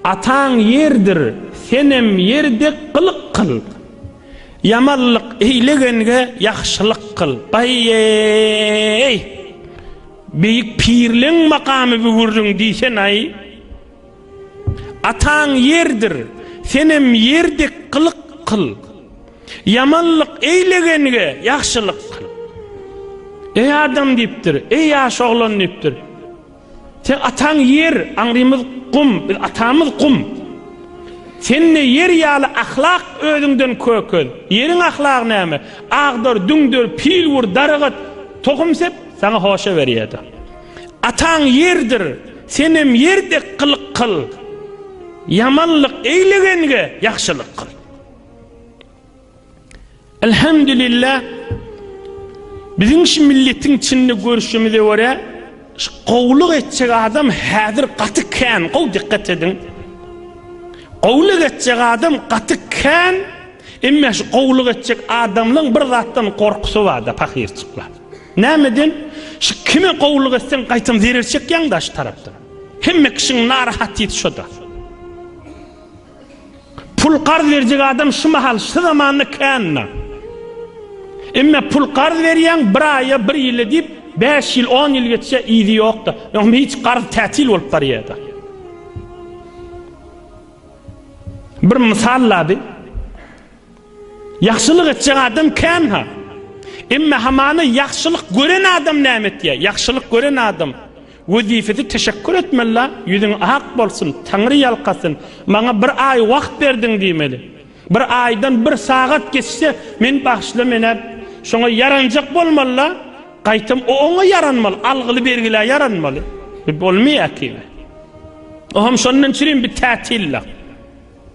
Ataň ýerdir, senem ýer dek gylyk kyl. Ýamanlyk eýlegenge ýagşylyk kyl. Aý-eý! Beýik pirleň makamy bu gürrüň diýsen-aý! Ataň ýerdir, senem ýer dek gylyk kyl. Ýamanlyk eýlegenge ýagşylyk kyl. Eý adam diýipdir, eý ýaş oglan diýipdir. Seň ataň ýer, aňrymyz gum, biz atamyz gum. Sende ýer ýaly ahlak özüňden kökez. Ýeriň ahlagy näme? Agdar, düňder, pil wur, daragat, tohum sep, saňa hoşa berýärdi. Ataň ýerdir, senem ýer dek gylyk kyl. Ýamanlyk eýlegenge ýagşylyk kyl. Elhamdülillah biziň şu milletiň içinde görüşimize göre şu gowluk etjek adam häzir gaty kän gow dikkat ediň gowluk etjek adam gaty kän emma şu gowluk etjek adamlaryň bir zatdan gorkusy barda pahirçikler nämeden şu kime gowluk etseň gaýtam zerer çekýäň daş tarapdan hemme kişiň narahat ýeti şoda Pul garz berjek adam şu mahal şu zamanda känna. Emme pul garz berýäň bir aýa bir ýyla diýip bäş ýyl on ýyl geçse yzy ýokda. Ýöne hiç garz tätil bolup barýarda. Bir mysal lady. Ýagşylyk etjek adam kän-ha. Emma hamana ýagşylyk gören adam näme etýär? Ýagşylyk gören adam wezipesi teşekkür etmeli-la, ýüzüň ak bolsun, Taňry ýalkasyn, maňa bir aý wagt berdiň diýmeli. Bir aýdan bir sagat geçse, men bagşla menä şoňa ýaranjak bolmaly-la, gaýtam o oňa ýaranmaly, algyly-bergilä ýaranmaly. Bu bolmaýar ki. O hem şondan çürim bir tätil-la.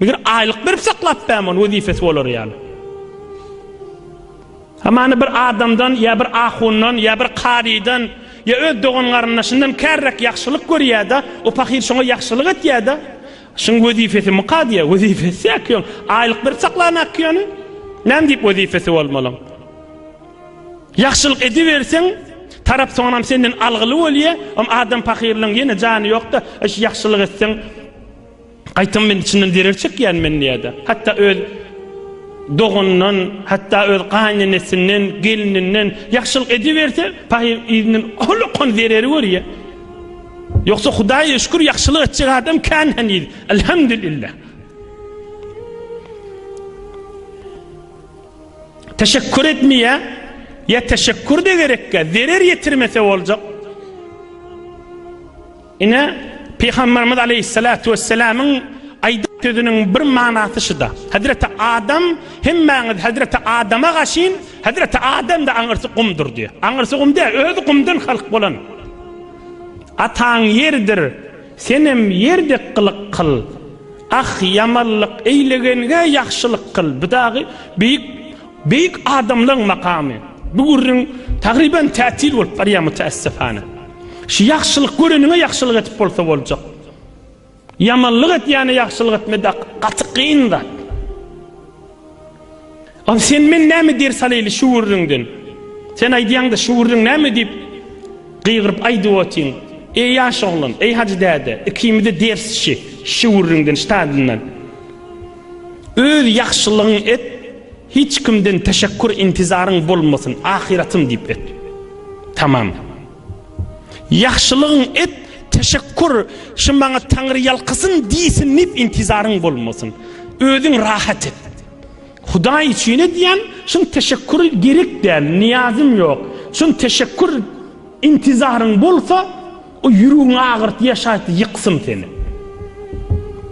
Meger aýlyk berip saklap bäm ony wezipesi bolary ýaly. Hamany bir adamdan ýa bir ahundan ýa bir karydan ýa öz dogan-garyndaşyndan kärräk ýagşylyk görýär-de, o pahyr şoňa ýagşylyk etýär-de, şuň wezipesi muka diýýär, wezipesi ýaky ýoň, aýlyk berip saklanak ki ýöne, näme diýip wezipesi bolmalyň. Ýagşylyk ediberseň, tarap soňam senden algyly bolýar, am adam pahyrlaryň ýene jany ýok-da, eş ýagşylyk etseň, Gaýtam men içinden zerer çekýänmen diýýärdi. Hatda öz doganyndan, hatda öz gaýynenesinden, gelninden ýagşylyk ediberse, paýy yzyndan holokan zereri görýär. Ýogsa Hudaýa şükür ýagşylyk etjek adam kän heniz. Elhamdülillah. Teşekkür etmeye ya teşekkür de gerekke zerer yetirmese olacak. Ine, Pygamberimiz aleýhissalatu wesselamyň aýdan sözüniň bir manasy şuda, Hezreti Adam, hemmäňiz Hezreti Adama gaşyn, Hezreti Adam-da aňyrsy gumdur diýýär. Aňyrsy gum däl, özi gumdan halk bolan. Ataň ýerdir, senem ýer dek gylyk kyl. Ah, ýamanlyk eýlegenge ýagşylyk kyl. Bu dagy beýik Beýik adamlaň makamy. Bu gürrüň tagryban tätil bolup barýar mütäessifane. Şu ýagşylyk göreniňe ýagşylyk edip bolsa boljak. Ýamanlyk edýäne ýagşylyk etmeda gaty kyn zat. Ol sen men näme ders alaýly şu gürrüňden. Sen aýdýaňda şu gürrüň näme diýip gygyryp aýdyp otyň. Eý ýaş oglan, eý hajy däde, ikimize ders şi, şu gürrüňden, ştadyndan. Öz ýagşylygyň et, hiç kimden teşekkur intizaryň bolmasyn, ahyratym diýip et. Tamam. Ýagşylygyň et, teşekkur şy maňa Taňry ýalkasyn diýsin diýip intizaryň bolmasyn. Özüň rahat et. Hudaý üçin edýän, şun teşekkur gerek däl, niýazym ýok. Şun teşekkur intizaryň bolsa, O ýüregiňi agyrt ýaşaýtdy, ýyksyn seni.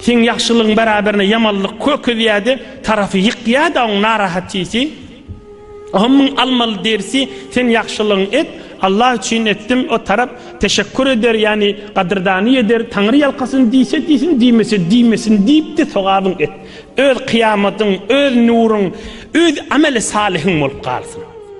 Seň ýagşylygyň bäraberine ýamanlyk kökezýärdi, tarapy ýykýardy oň narahatçysy. Oňa müň almaly derisi, sen ýagşylygyňy et, Allah üçin etdim, o tarap teşekkur eder, ýagny gadyrdany eder, Taňry ýalkasyn diýse diýsin, diýmese diýmesin diýipdi, sogabyňy et. Öz kyýamatyň, öz nuruň, öz ameli salyhyň bolup galsyn.